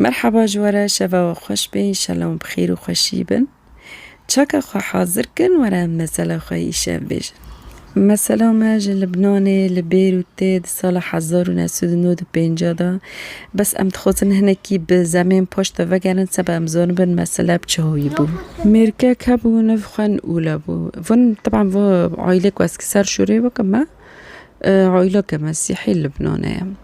Merhaba ji we re şeva we xweş be înşela wan bi xêr û xweşî bin. Çaka xwe hazir kin were em mesela xwe îşev bêjin. Mesela me ji Libnanê li Bêrûtê di sala hezar û neh sed û nod û pêncah de bes em dixwazin hinekî bi zemên paş de vegerin seba em zanibin mesela bi çi hoyî bû. Mêrkek hebû niv xwe Nûla bû. Van teban va aîlek wezki ser şûrê weke me aîleke mesîhî Libnanê ye.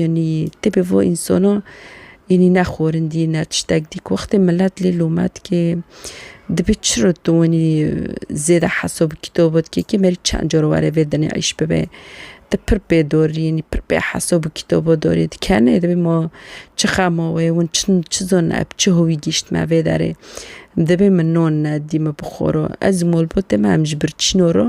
Yanî tê bi vo însana yanî ne xwarindî ne tiştek dî ku wextê milet lê lome dike dibê çiro tu wanî zêde hesa bi kîtaba dike kêm herî çend car were vê dinê îş bibe ti pir pê darî yanî pir pê hesa bi kîtaba darî di ker nê dibê ma çi xema wê hûn çin çi zon ev çi howî gîşt me vê derê dibê min nan nedî min bi xwe re ez malbatê me em ji birçîna re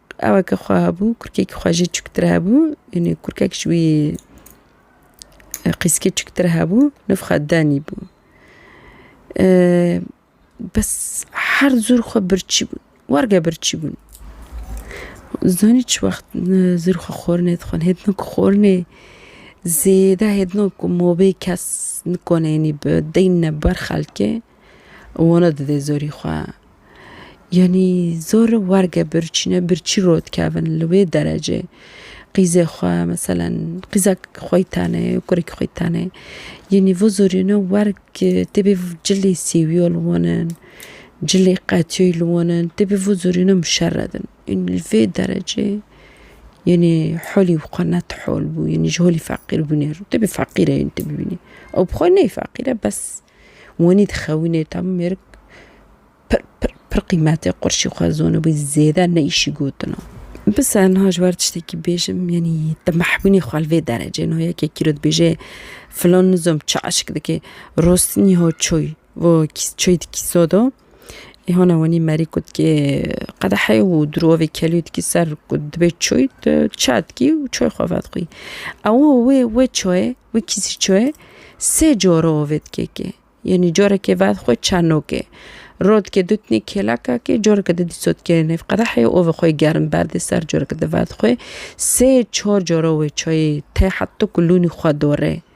Aweke xwe hebû, kurkekî xwe jî çûktir hebû. Yanî kurkek ji wî qîskê çûktir hebû, niv xwe Danî bû. Bes her zûr xwe birçî bûn, warge birçî bûn. Zanî çi wext zûr xwe xwarinê dixwin. Hêt no ku xwarinê zêde hêt no ku mobê kes nikone yanî bi deyne ber xelkê. Wona didê zorî xwe. Yanî zor werge birçîne, birçî rot kevin li wê derecê. Qîzê xwe meselen qîza xwe yî tenê, kurekî xwe yî tenê. Yanî vo zorîne werg têbê cilê sêwîyo li wan in, cilê qetiyo yî li wan in, têbê vo zorîne muşeredin. Yanî li vê derecê yanî holî wî xwe net hol bû, yanî ji holî feqîrbûnê re. Têbê feqîr e yanî tu bibînî. Ew bi xwe neyê feqîr e bes. Wanî dixewînê tam mêrik pir pir pir qîmetê qurşî xwe zonibû zêde ne îşî gotina. Bise niha ji wer tiştekî bêjim yanî te mehbûnî xwe li vê derecê no yekekî re dibêje filan nizom çi eşk dike rostinî ho çûy vo çûy di kîso do. Îhona wenî Merî kutkê qedehê û dirovê kelûyê dikî ser ku dibê çûy çar dikî û çûyê xwe vedixwî. Ew wê wê çûyê wê kîsî çûyê sê cor ovê dikê kê. Yenî corekê vedixwe çarnokê. Rû dikê dûtnî kêleka kê coreke di dîso dikê nêv qedehê ovê xwe yê germ berdê ser coreke di vedixwê. Sê çor cor ovê çûyê tê heta ku lûnî xwe dore.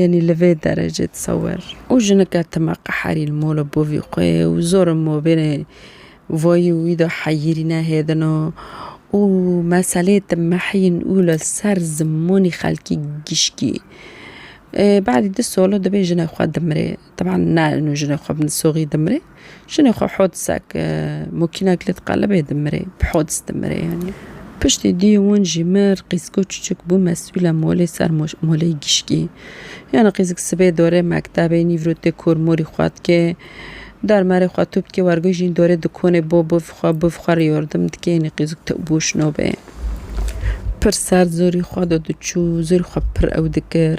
Yanî li vê derecê tesewer û jinike time qeherî li mola bavî xwe ye û zor in mabênê vayî û wî de heyîrî nehêdin o û meseleyê timehîn û li ser zimanî xelkî gişkî. Badî du sala divê jine xwe dimirê. Teban na inu jinê xwe bin soxî dimirê. Jinê xwe hodisak mokînak li diqelibê dimirê. Bi hodis dimirê yanî. Piştî duyê wan jî mir qîziko çuçuk bû mesûla molê ser molê gişkî. Yanî qîzik sibê dorê mektebê nîvro tê kor morî xwe dikê. Dermerê xwe tûp dikê wergo jîn dorê dikonê bo biv xwe biv xwe rê yordim dikê yanî qîzik tu bo şino bê. Pir serd zorî xwe do diçû zorî xwe pir ew dikir.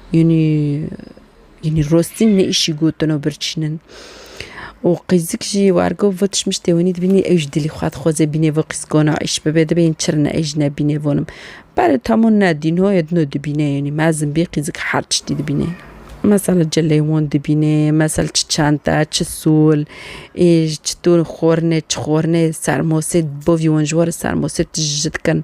Yanî yanî rostî ne îşî gotin û birçînin. Û qîzik jî wargo vê tişmiştê wenî dibînî ew jî dilî xwe dixwaze bînê vê qîzgona îş bibe dibe yên çirine ez jî nebînê vonim. Berê tamo ne dîno ye dino dibîne yanî mezin bî qîzik her tiştî dibîne. Mesela çi lêwan dibîne, mesela çi çente, çi sol, ê çi to xornê, çi xornê sermosê bavî wan ji warê sermosê tij ji dikin.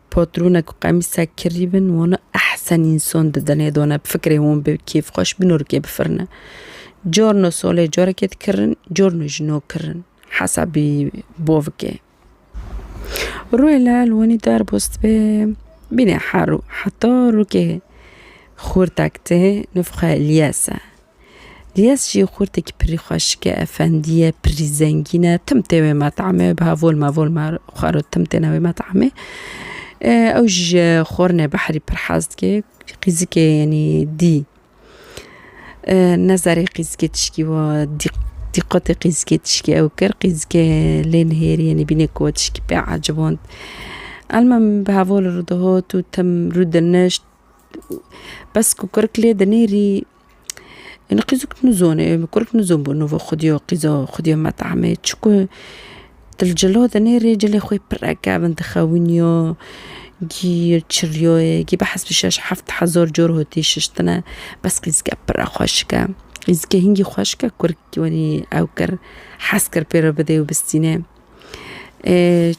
Patrûne ku qemîsek kirî bin wana ehsen însan di dinê de ne bi fikrê wan bê kêfxweş bin û rikê bifirine. Carna salê carekê dikirin, carna jî nakirin. Hesabî bavikê. Rûyê li elwanî derbas dibe bîne her û heta rûkê xûrtek tê nifxwe liyes e. Diyes jî xurtekî pirî xwe şike, efendî ye, pirî zengîn e, tim tê wê metamê, biha volma volma xwe re tim têne wê metamê. Ew jî ji xornê behrî pir hez dike, qîzikê yenî dî ne zerê qîzikê tişkî wa dîqetê qîzikê tişkî ew kir, qîzikê lê nihêrî yenî bîne ku we tişkî pê eciband. Elmam biha vol rûdihot û tim rûdinişt, bes ku kirik lê dinêrî. Ênî qîz û kûr nizone kûr û kûr nizon bû nûve xwedî yo qîz o xwedî yo metame çikû til cilo de nêrê cilê xwê pire kevin dixewin yo gî çiliyoyê gî bi hespî şeş heft hezar cor hotî şiştine bes qîzike pire xweşik e qîzike hîngî xweşik e kûrikî wenî ew kir hez kir pêro bidê û bistîne.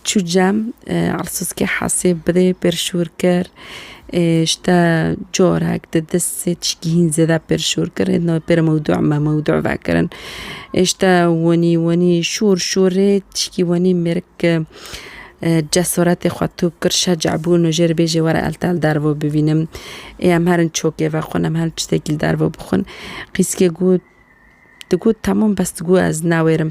Çû cem Elsûskê hesê bidê pêrşûr kir ji te corek di di sê tişkî hîn zêde pêrşûr kir hê no pêre mewdû me mewdû vekirin ê ji te wenî wenî şûr şûrê tişkî wenî mêrik cesoretê xwe top kir şeca bû no jê re bêjê were el te li derve bivînim ê em herin çokê vexwin em herin tiştekî li derve bixwin qîskê got digot temam bes digot ez newêrim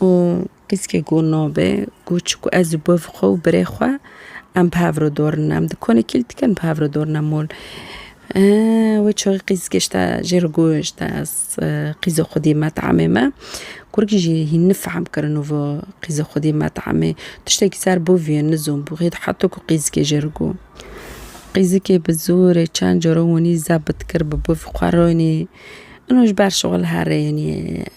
Û piskek got nabe got çiku ez û bav xwe û birê xwe em bi hev re dor in em di konê kîl dikin bi hev re dor in em ol wê çaxê qîz gişte jê re got ez qîza xwe dî met'emê me kurikî jî hîn nifehm kirin û va qîza xwe dî met'emê tiştekî ser bav ye nizom bû hê heta ku qîzikê jê re got qîzikê bi zorê çend caran wanî zebit kir bi bav xwe rayînî û ji ber şixul herênî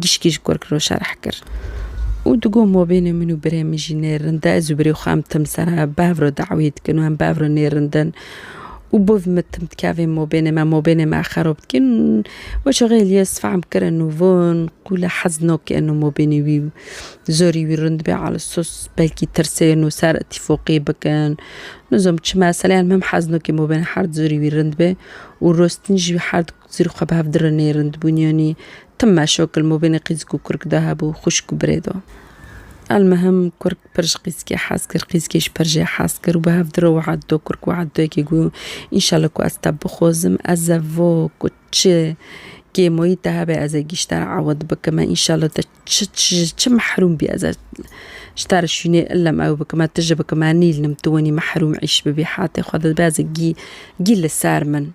Gişkî ji Korkirol şerh kir û digot, Ma bêne min û birê min jî nê rind e. Ez û birê xwe em tim ser bev re dawî dikin û em bev re nê rind in û bo vê me tim dikevin ma bêne me ma bêne me xerob dikin. Weşa Xêliyes fehm kir in û von ku li hez nakin û ma bêne wî zorî wî rind be ala sos belkî tirsên û ser îtîfoqî bikin. Nizam çi meseleyan min hez nakin ma bêne herd zorî wî rind be û rostin jî herd zorî xwe bi hev dirinê rindbûn yanî Tim meşo kil mobênê qîzk û kurk de hebû, xwişk û birê de. Elmihim kurk pir ji qîzkê hez kir, qîzkê jî pir jê hez kir û bi hev di re weht do. Kurk weht do yekê got, Înşallah ku ez te bixwazim, ez ê vo ku çi kêmoyî te hebe ez ê gîşter ewd bikim e, înşallah te çi ji çi mehrûm bî ez ê ji te re şûnê illem ew bikim e, tu ji bikim e nîlnim, tu wenî mehrûm îş bibî, hatê xwe dibe ez ê gî gî li ser min.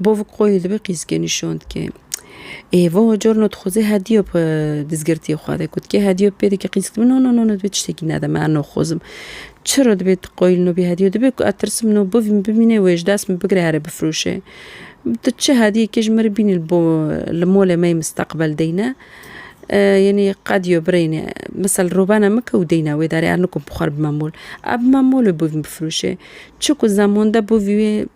Bovik xwe yê li vê qîzkê nîşand ke Êvo carna dixwaze hediya bi dizgirtiyê xwe de ku dikê hediya bi pê dike qîzk dibe no no no no divê tiştekî nede me ez naxwazim. Çira divê tu qayîl nabî hediya divê ku ez tirsim no bivî min bimîne wê ji dest min bigire here bifiroşe. Tu çi hediyekê ji min re bînî li bo li malê me yê misteqbel deyne yanî qediya birêne misal robena min ke û deyne wê derê ez nikom bi xwe re bime mol. Ez bime mol û bivî min bifiroşe. Çi ku zemande bivî wê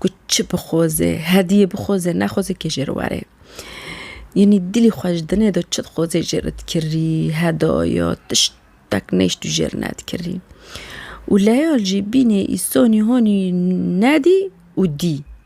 ku çi bixweze, hediyê bixweze nexweze kê jê re were. Yanî dilê xwe ji dinê de çi dixweze jê re dikirî, hedaya tiştek neyşt û jê re nedikirî. Û leyal jî bînê îsonî honî nedî û dî.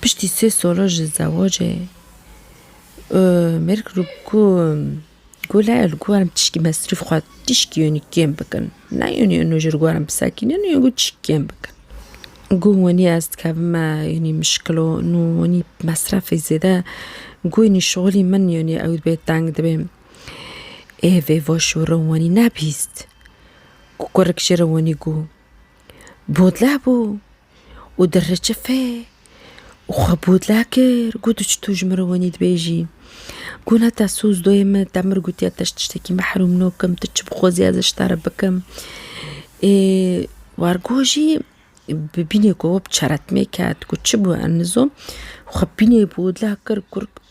Piştî sê sala ji zewacê mêr kir ku ku lê li gorm tişkî mesrûf xwe tişkî yanî kêm bikin. Ne yanî ino ji gorm bisekînin ino ku tişkî kêm bikin. Ku wanî ez dikevim me yanî mişkilo ino wanî mesrefê zêde ku yanî şixulî min yanî ew dibê teng dibê. Ê vê vaşûra wanî nebîst. Ku kurik ji re wanî ku bodleh bû. û di ricifê û xwe bodla kir got tu çi tu ji min re wenî dibêjî. Got ne te soz doyê min te min gotiye te ji tiştekî mehrûm nakim tu çi bixwazî ez ji te re bikim. Ê wargo jî bi bînê ku çeretmê ket got çi bû em nizom xwe bînê bodla kir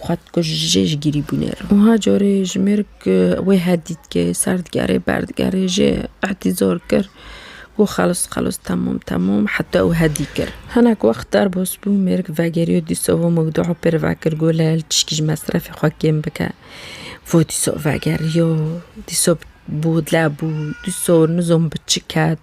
Xwe dikuje jê ji gîrî bûnê re. Wiha carê ji mêrg wê he dît ke ser digerê ber digerê jê îhtîzar kir ku xelis xelis temam temam heta û he dî kir. Hinek wext derbas bû mêrg vegeriyo dîsa û mewdûa pê re vekir got lel tişkî ji mesrefê xwe kêm bike. Vo dîsa vegeriyo dîsa bû leb bû dîsa nizom bi çi ket.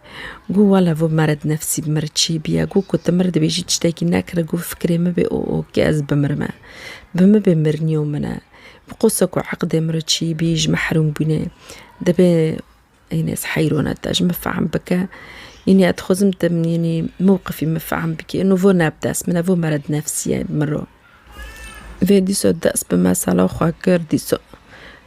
Got wala vû mered nefsîb mir çî bîye, got ku ti mir dibêjî tiştekî nekire, got fikrê min bê o o ke ez bimirime. Bi min bê mirnîyo min e. Bi qosa ku eqdê mir çî bî ji mehrûm bûnê. Dibê înê ez heyrone te ji min fehm bike. Înê ez dixwazim tu înê mewqifî min fehm bikî. Îno vû ne bi dest min e, vû mered nefsî ye bi mir o. Vê dîsa dest bi mesela xwe kir, dîsa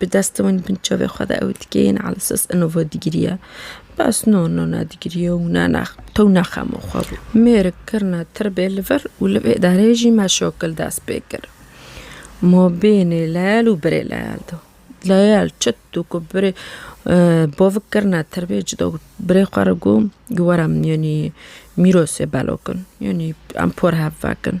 Bi dest wan bin çavê xwe de ew dike yên elsas eno va digiriye. Bes no no na digiriye û na na tew na xemo xwe bû. Mêrik kirina tirbê li vir û li vê derê jî me şokil dest pê kir. Ma bênê leyel û birê leyel da. Leyel çit û ku birê bavik kirina tirbê ci da birê xwe re got, got were min yanî mîrosê belo kin. Yanî em por hev vekin.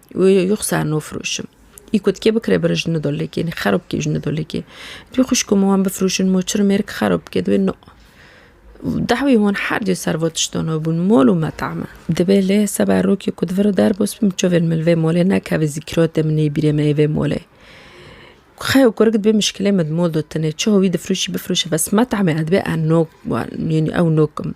Yoksa nofroşim. Î ku dikê bikire bire ji Nidolekê nê xero bike ji Nidolekê. Dibê xwişko min wan bifroşin moçir mêrik xero bike dibê no. Dawî hûn her dê ser vo tiştan hebûn mol û meta me. Dibê lê seba rokê ku diviro derbas bim çavên min li vê molê nekeve zîkratê min nê bîrê me yê vê molê. Xeyo kurik dibê mişkilê me di mol de tune çawa wî difroşî bifroşe bes meta me dibê ez nok wan yanî ew nokim.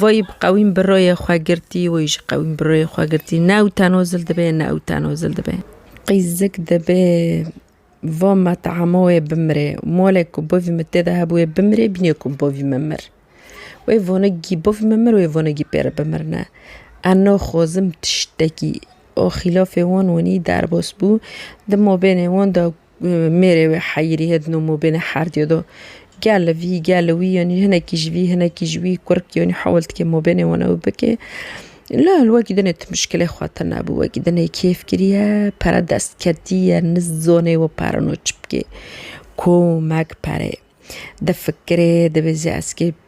Wî bi qewîm bi royê xwe girtî, wî ji qewîm bi royê xwe girtî, ne ew teno zil dibe, ne ew teno zil dibe. Qîzik dibe va me tehema wê bimire, malê ku bavî min tê de hebûye bimire, bînê ku bavî min mir. Wê vanegî bavî min mir, wê vanegî pê re bimirine. Ez naxwazim tiştekî a xîlafê wan winî derbas bû, di mabênê wan de Mêrê wê heyirî hê di nomobênê her diyo do. Gel li vî, gel li wî yanî hinekî ji vî, hinekî ji wî kurk yanî hewil dike mobênê wan ew bike. La li we gîdinê tu muşkilê xwe te nebû. We gîdinê kêf kiriye, pere dest ketiye, nizanê we pere no çi bikê. Komek pere ye. Difikirê, dibêje ez kê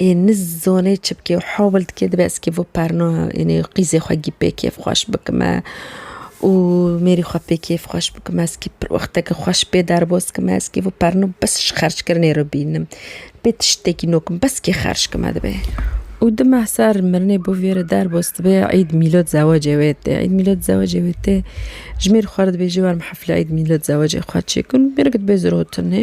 Ê niz zonê çibkê û hawil dike dibe ez kê vo perna ênê qîzê xwe gî pê kêf xweş bikime û mêrî xwe pê kêf xweş bikime ez kê pir wexteke xweş pê derbas kime ez kê vo perna bes ji xerckirinê re bînim pê tiştekî no kim bes kê xerc kime dibe û di meh ser mirinê bo vê re derbas dibe îd mîlad zewacê wê tê îd mîlad zewacê wê tê ji mêr xwe re dibêje werim hefle îd mîlad zewacê xwe çêkim mêrik dibe zirotinê.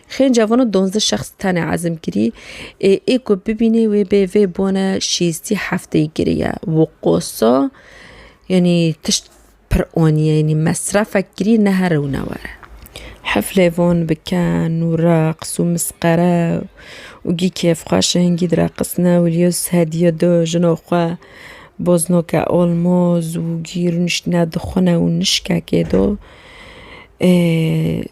Xênca vana donzdeh şexs tenê ezm kirî. Ê ê ku bibînê wê bê vê bone şîstî hefteyî kirî ye. Wi qosa yanî tişt pir aniye yanî mesrefek kirî ne here û ne were. Heflê van bi ken û reqs û misqere û gî kêfxweş e hingî direqisne û Lîyos hediye da jina xwe boznoke almoz û gî rûniştine dixwine û nişkekê da. Ê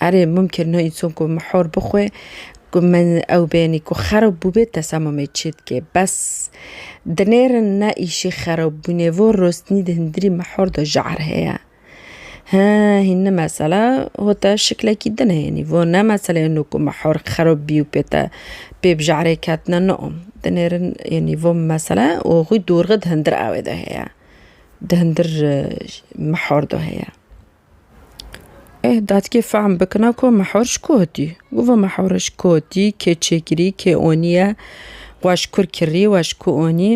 Erê mumkin no înson ku mihor bixwe ku min ew bênî ku xerob bûbê tesamumê çê dike. Bes dinêrin ne îşî xerob bûnê vo rosnî di hindirî mihor de jehr heye. He hîn ni mesela ho te şiklekî din hênî vo ne meseleyê no ku mihor xerob bî û pê te pê bi jehrê ketine no dinêrin yanî vo mesela û xwî dorxe di hindir awê de heye. Di hindir mihor de heye. Eh datkê fehm bikina ku mehûr ji ku hatî. Gova mehûr ji ku hatî, kê çêkirî, kê oniye, we ji kur kirî, we ji ku onî.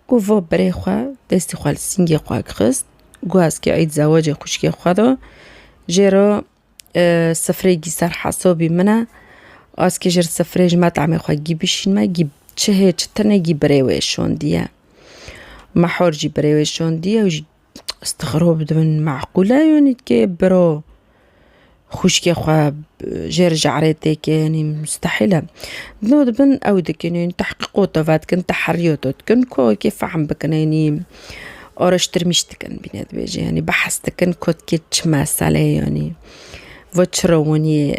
Gova berê xwe destê xwe li singê xwe xist, got ez kê eîd zewacê xwişkê xwe de. Jê re sifreyekî ser hesabî min e. Ez kê ji ber sifrê ji metamê xwe gî bişînme, gî çihê çi tune gî berê wê şandiye. Mehûr jî berê wê şandiye. Stixrob dibin meqûl e yanî ke biro xwîşkê xwe jê re ji erêtê ke yanî mustehîl e. No dibin ew dikin yanî tehqîqo te vedikin teherîyo te dikin ku wekî fehm bikin yanî araştirmîş dikin bîne dibêje yanî behs dikin ku ti kê çi meseleyê yanî va çi rewaniye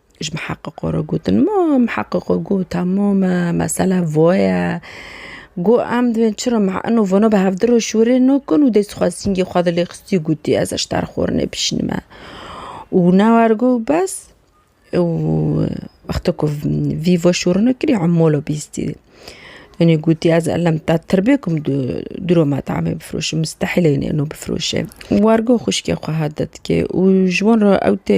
Ji miheqiqo re gotin ma miheqiqo got tamam e, mesela vo ye. Got em divên çira ma ino vano bi hevdir re şûrê nakin û dest xwe singê xwe dilê xistî gotî ez ji te re xwe rûnê bişînime. Û ne war got bes û wexta ku vî vo şûrine kirî emalo bîstî. Tenê gotî ez elem te tiribêkim du dûro me te amê bifroşim mistehîle înê ino bifroşê. War got xwişkê xwe hat de dikê û ji wan re ew tê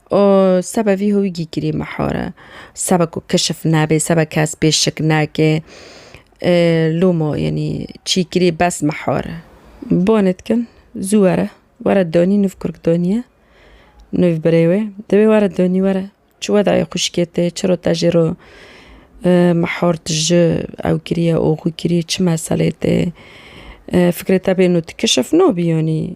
û seba vî hûgî kirî mihore, seba ku kişif nebe, seba kes pê şik nake, lûmo yenî çî kirî bes mihore. Bonê dikin, zû were, were donî nûv kurk doniye, nûv birê wê, divê were donî were, çi wedayê xwişkê tê, çi ro te jê ro mihor tu ji ew kirî ye, oxû kirî, çi meselê tê, fikrê te bêno tu kişif nobî yenî.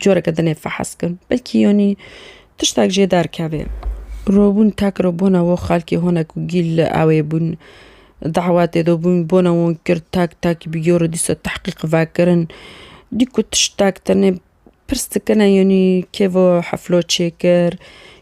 Coreke din ê fehes kim. Belkî yanî tiştek jê derkevê. Robûn tek re bona wo xelkê hone ku gîl li ewê bûn, dewetê de bûn, bona wan kir tek tek bi yo re dîsa tehqîq vekirin. Dîku tiştek tenê pirs dikine yanî kêva hefla çêkir,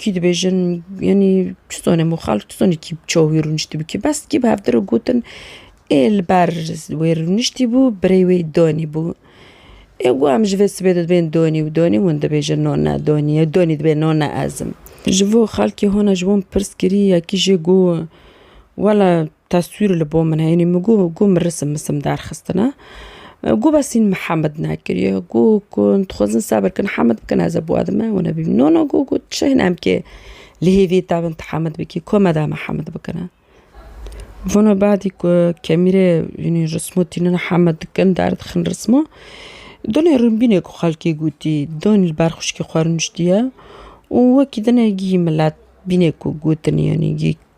Kî dibêjin yanî tu zanê min xelk tu zanî kî ça wî rûniştî bû kî bes kî bi hevdî re gotin ê li ber wê rûniştî bû birêy wê danî bû ê ku em ji vê sibê re dibên danî û danî hûn dibêjin na ne danî ye danî dibê na ne ez im. Ji bo xelkê hûn e ji wan pirs kirî yekî jê got wele Teswîr li bo min e. Yanî min got got min risim misim derxistine. Got bes hîn min Hemed nekiriye. Got ku dixwazin sebir kin Hemed bikin ez ê bo ez me wina bîm. No no got got tu çi hîn em kê li hêviyê te bin tu Hemed bikî ku me de em ê Hemed bikine. Vana badî ku kemîrê yanî rismo tînin Hemed dikin derdixin rismo. Dinê rimbînê ku xelkê gotî danî li ber xwişkê xwe rûniştiye û wekî dinê gihî milet bînê ku gotinî yanî gihî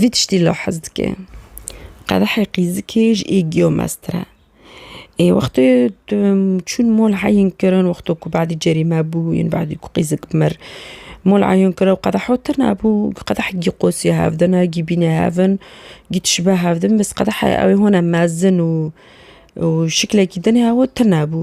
Vî tiştî li hez dike. Qedehê qîzikê ji êgiyo meztir e. Ê wextê tu çûn mol heyîn kirin wexto ku badî cerîme bû yên badî ku qîzik mir. Mol heyîn kir ew qedeho tir nebû qedeh gî qosiya hev dina gî bîne hevin gî tişibe hev din biz qedehê ew ê hone mezin û û şiklekî din ew tir nebû.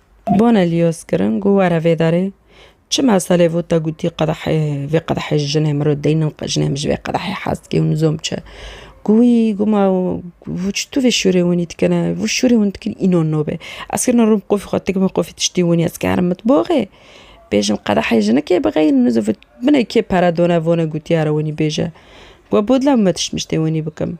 Bone liyos kirin ku were vê derê. Çi meselê bû te gotî qedehê vê qedehê ji jinê min re deynin qe jinê min ji vê qedehê hez dike û nizom çi. Ku wî ku ma tu vê şûrê winî dikine vû şûrê hûn dikin înan nabe. Ez kirina rûm qufî xwe dik min qufî tiştî winî ez karin mitboxê bêjim qedehê jina kê bixeyîn nizivit binê kê pere done vone gotî here winî bêje. Ku bûdla min me tişt miştê winî bikim.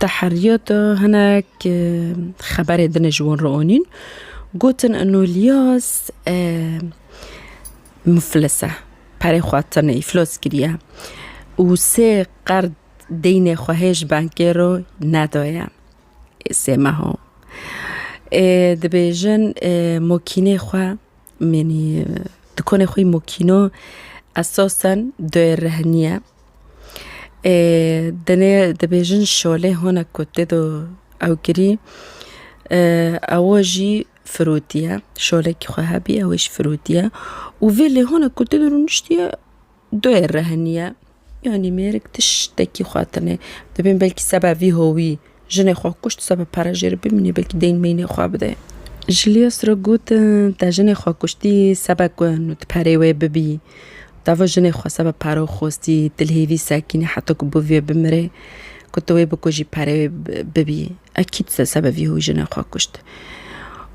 Di heriya de hinek xeberên din ji wan re anîn gotin Enolias muflis e, perê xwe tune îflas kiriye û sê qerd deynê xwe hê ji bankê re nedaye sê meha. Dibêjin makînê xwe yanî dukanê xwe yê makîna esasen dayê rehinî ye. Tenê dibêjin şolê hona ku tê do ewkirî ewa jî firotî ye şolekî xwe hebî ew jî firotî ye û vê lê hona ku tê do rûniştî ye doyê rehinî ye yanî mêrik tiştekî xwatinê dibên belkî seba vî howî. Jinê xwe kuşt sebe pere jê re bimînê belkî deyn meynê xwe bide. Julius re got, Te jinê xwe kuştî sebe ku nu tu perê wê bibî. Dava jinê xwe sebe pere xwestî, tu li hêvî sekînî heta ku bi vê bimirê. Ku tu wê bikujî perê wê bibî. Ekîd te sebe vî hoyî jinê xwe kuşt.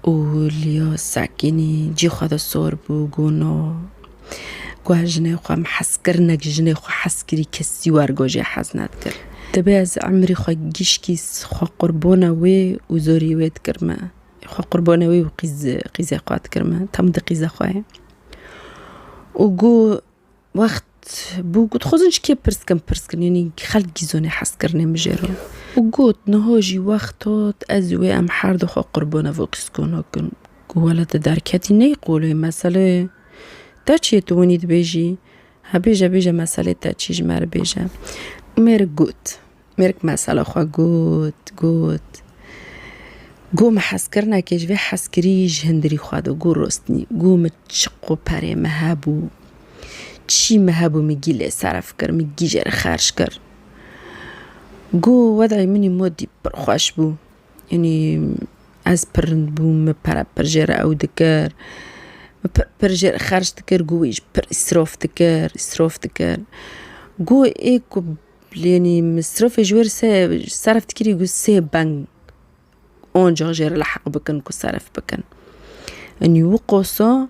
Û Julius sekînî cî xwe de sor bû, got, No. Ku ez jinê xwe em hez kirin nek jinê xwe hez kirî kesî wer gojê hez nedikir. Divê ez emrî xwe gişkî xwe qurbona wê û zorî wê dikir me. Xwe qurbona wê û qîz qîzê xwe dikir me. Tam di qîza xwe ye. Û ku wext bû ku dixwazin ji kê pirs bikim pirs bikim yanî xelk gîzonê hez kirinê min jê re. Û got niha jî wext hat ez û wê em her du xwe qurbona vê qîzkona bikin. Ku wele tu derketî ney qolê meselê. Te çiyê tu winî dibêjî? He bêje bêje meselê te çî ji me re bêje. Û mêrik got. Mêrik mesela xwe got, got. Got min hezkirinekê ji vê hezkirî ji hindirî xwe de got rostinî. Got min çi qoperê min hebû, çî min hebû min gî lê seref kir, min gî jê re xerc kir. Got wedayê minî modî pir xweş bû. Yanî ez pir rind bûm, min pir pir jê re ew dikir, min pir pir jê re xerc dikir, ku wî ji pir îsrof dikir, îsrof dikir. Ku ê ku yanî misrofê ji wê re sey serf dikirî ku sê bang oncaq jê re liheq bikin ku serf bikin. Yanî wi qoso.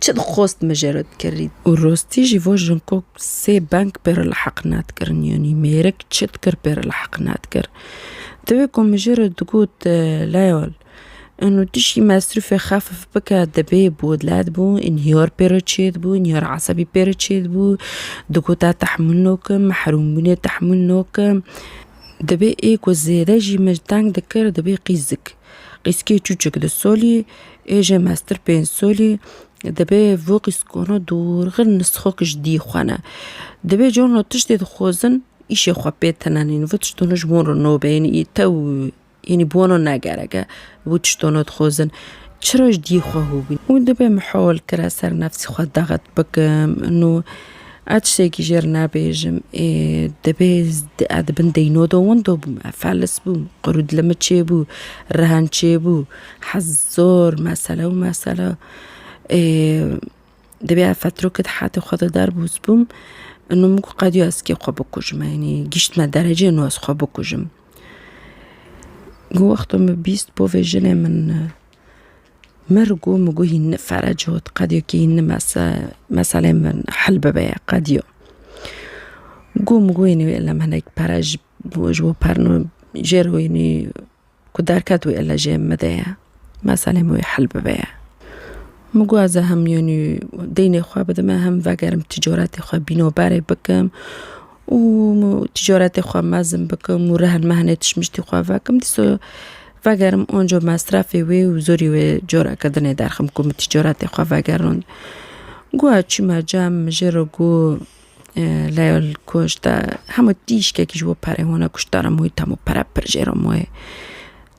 Çi dixwast min jê re dikirî. Û rastî jî va Jungkook sê bang pê re liheq nedikirin yanî mêrik çi dikir pê re liheq nedikir. Di wê ku min jê re digot Leol in û tu jî mesrûfê xefif bike dibê bodlet bû înhiyar pê re çêdibû înhiyara esebî pê re çêdibû digot ez tehmûl nakim mehrûmbûnê tehmûl nakim. Dibê ê ku zêde jî min teng dikir dibê qîz dikir. Qîskê çûçik du solî ê jê mestir pênc solî dibê vû qîskona dûrxin nisxok ji dî xwe ne. Dibê carna tiştê dixwazin îşê xwe pê tenenîn. Vî tiştana ji wan re nabe yanî î tew yanî bi wan re ne gerek e vî tiştana dixwazin. Çira ji dî xwe hûbîn. Hûn dibê mihal kira ser nefsê xwe daxet bikim. Nû Ez tiştekî jê re nabêjim. Ê dibê ez di bin deyno de winda bûm. Ez felis bûm. Qirû dili min çêbû. Rihen çêbû. Hez zor mesele û mesele. Ê dibê ez fetrokê di hetê xwe de derbûs bûm. Îno min got qediya ez kê xwe bikujim. Yanî gîştime dereceyê nu ez xwe bikujim. Got wexta min bîst bo vê jinê min Min rigo min got hîn nifere cot qediyo kê hîn nimese meseleyên min hil bibe ya qediyo. Got min got hînî wê illa min hinek pere ji bo ji bo perno jê re hînî ku derket wê illa jê min bide ye meseleyê min wê hil bibe ye. Min got ez ê hem hînî deynê xwe bidime hem vegerim tîcaretê xwe bîno berê bikim. û tîcaretê xwe mezin bikim û rehn mehnê tişmiştî xwe vekim dîsa vegerim anco mesrefê wê û zorî wê careke din ê derxim ku min tîcaretê xwe vegerand. Goya çûme cem min jê re got Leyal kuşt te hemû tîşkekî ji bo perê wan e kuşt te re mûyî te hemû pere pir jê re maye.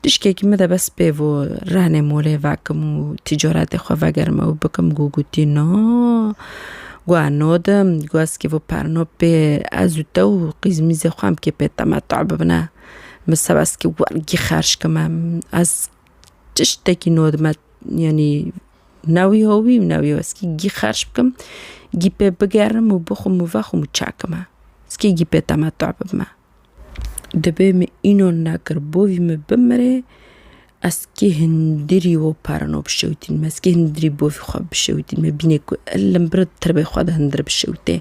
Tişkekî min de bes pê bû rehnê molê vekim û tîcaretê xwe vegerim ew bikim got gotî na got ez nadim got ez kêf û per na pê ez û te û qîzmîzê xwe em kê pê temeteû bibine min seb ez kê wergî xerc kime ez tiştekî nadime yanî ne wî ya wî û ne wî ya wî ez kê gî xerc bikim gî pê bigerim û bixwim û vexwim û çekime ez kê gî pê temeteû bibime. Dibê min înan nekir bo vî min bimirê ez kê hundirî we perna bişewitînim ez kê hundirî bo vî xwe bişewitînim me bîne ku li vir tirbê xwe de hundir bişewite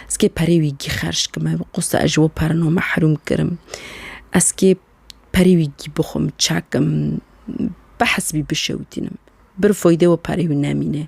ez kê perê wî kî xerc kim me qisa ez ji we perna mehrûm kirim ez kê perê wî kî bi xwe min çekim behs bî bişewitînim bir feyde we perê wî nemîne.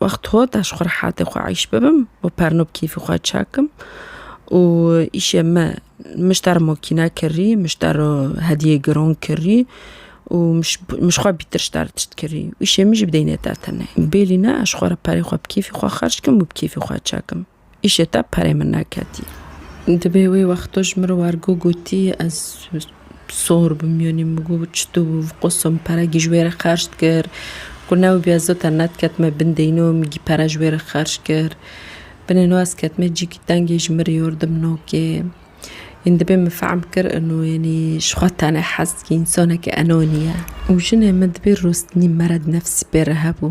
Wext xwe da ji xwe rehatê xwe eyş bibim û perno bi kêfî xwe çekim û îşê me min ji te re mokîne kirî, min ji te re hediyê giron kirî û min ji xwe bîtir ji te re tişt kirî û îşê min jî bi deynê te tune. Bêlîne ez ji xwe re perê xwe bi kêfî xwe xerc kim û bi kêfî xwe çekim. Îşê te perê min neketî. Dibê wê wexto ji min re wergo gotî ez sor bim yonî min got çitû bû viqosim peregî ji wê re xerc dikir got ne wibî ez zota nediketime bin deyno min gî pere ji wê re xerc kir binê no ez ketime cîkî tengê ji min re yor dim nokê yên dibê min fehm bikir ino yenî ji xwe tane hez dikî însaneke enonî ye û jinê min dibê rostinî merad nefsî pê re hebû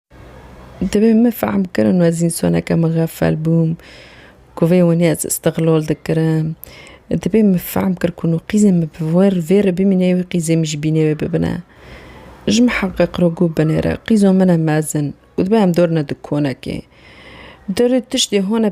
Divê min fehm bikirin ez însoneke mixefel bûm ku vê winê ez îstiqlol dikirim. Divê min fehm kir ku no qîzên min bi wir vê re bimîne wê qîzên min jî bînê wê bibine. Ji min heqê qirogû binêre. Qîzo min e mezin û divê em dorine dikonekê. Dorê tiştê hone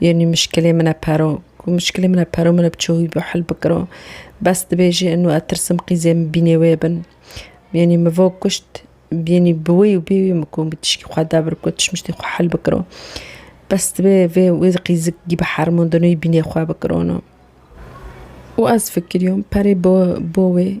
Yanî mişkilê min e pero. Ku mişkilê min e pero min e bi çi wî bi hil bikiro. Bes dibêjê inu ez tirsim qîzê min bînê wê bin. Yanî min vo kuşt yanî bi wî û bê wî min ku min tişkî xwe de biriko tişmiştî xwe hil bikiro. Bes dibê vê wê qîzik gî bi hermon dino yî bînê xwe bikiro no. Û ez fikiriyom perê bo bo wê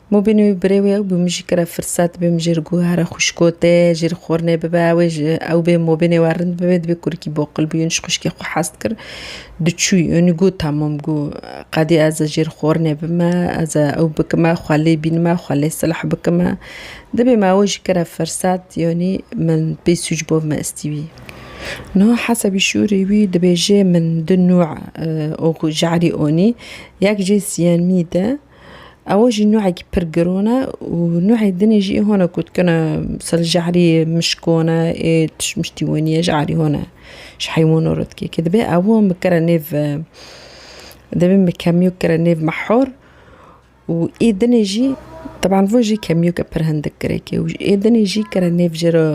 Mubîn û birê wê ew bi min jî kire firset, bi min jî li guhera xwişkotê jî li xwirnê bibe, wê ji ew bê mubînê we rind bibe, divê kurikî boqil bû, yûnî ji xwişkê xwe hez dikir, diçû yûnî got tamam got qedî ez ê jî li xwirnê bime, ez ê ew bikime, xwe lê bînime, xwe lê silh bikime, dibê me ew jî kire firset, yûnî min pê sûc bo me istî wî. Niha hesebî şûrî wî dibêje min du nû ji erî onî, yek jê sîyemî de. Ew jî nuhekî pir giron e û nuhê dinê jî ê hone ku dikine misal ji herî mişk hone ê tiştmiştî hone ji herî hone ji heywanan re dike ke dibe ew hon bikire nêv dibê bi kemiyok bikire nêv mehor û ê dinê jî teban vir jî kemiyoke pir hindik girêke û ê dinê jî bikire nêv jê re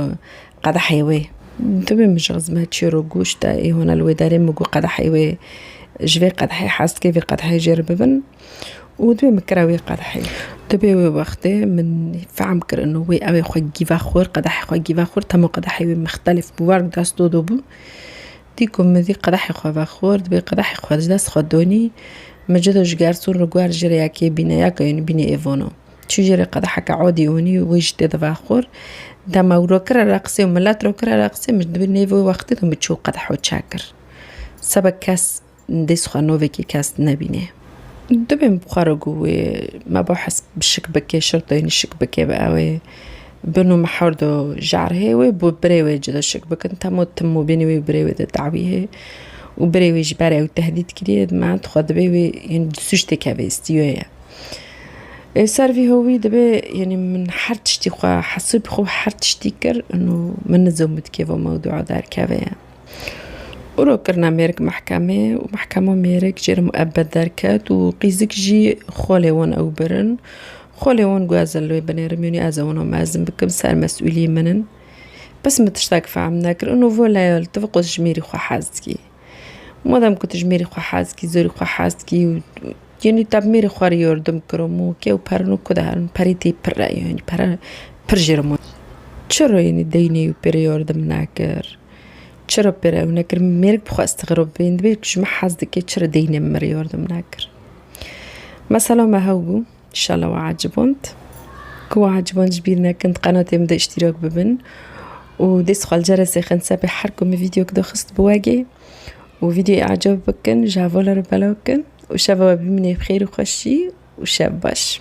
qedehê wê dibê min ji xizme çêro goşt e ê hone li wê derê min got qedehê wê ji vê qedehê hez dike vê qedehê jê re bibin. û divê min kira wê qedehê. Divê wê wextê min fehm kirino wê ewê xwe gîve xwir, qedehê xwe gîve xwir, temo qedehê wê mixtelif bû, war bi dest do do bû. Dî ku min vî qedehê xwe vexwir, divê qedehê xwe ji dest xwe donî, min ji do ji gerson re guher jê re ya kê bîne ya keyûnî bîne ê vono. Çû jê re qedeheke odî onî û wê jî tê de vexwir. Dema ew ro kira re qisê û milet ro kira re qisê min ji nêvê wê wextê de min çû qedeho çek kir. Seba kes Dê xwe novekî kes nebînê. Dibê min bi xwe re got wê mebahis bi şik bike, şirtayînî şik bike bi ewê bin û mihar do jarhê wê bi birê wê cida şik bikin. Temo tim û bînî wê û birê wê de dawî hê û birê wê ji ber ew tehdît kiriye me dixwe dibê wê yên di sûc tê keve îstiyo ye. Ê ser vî hovî dibê yenî min her tiştî xwe hesibî xwe her tiştî kir û min nizo min dikeve mewdûa derkeve ye. û rok kirina mêrik mehkemê û mehkema mêrik jê re muebed derket û qîzik jî xolê wan ew birin. Xolê wan got ez li wê binêrim yûnî ez ê wan mezin bikim ser mesûlî min in. Bes min tiştek fehm nekir û nûvo leyal tu bi qwe ji mêrî xwe hez dikî. Madem ku tu ji mêrî xwe hez dikî zêrî xwe hez dikî û yûnî te bi mêrî xwe re yardim kiro min wekî ew pere no ku diherin perê tê pir e yûnî pere pir jê re ma. Çira yûnî deynê wî pê re yardim nekir. Çira pê re ew nekir? Mêrik bi xwe istigrob bênd bê ku ji me hez dike çira deynê min re yardim nekir? Mesela me hew bû şala we eciband ku we eciband ji bîr nekin di qenatê min de îştîrak bibin û dê sixal ceresê xin sebê her ku min vîdyok daxist bi wegê û vîdyoyê ecab bikin ji hevala re belav bikin û şeva we bimîne bi xêr û xweşî û şev baş.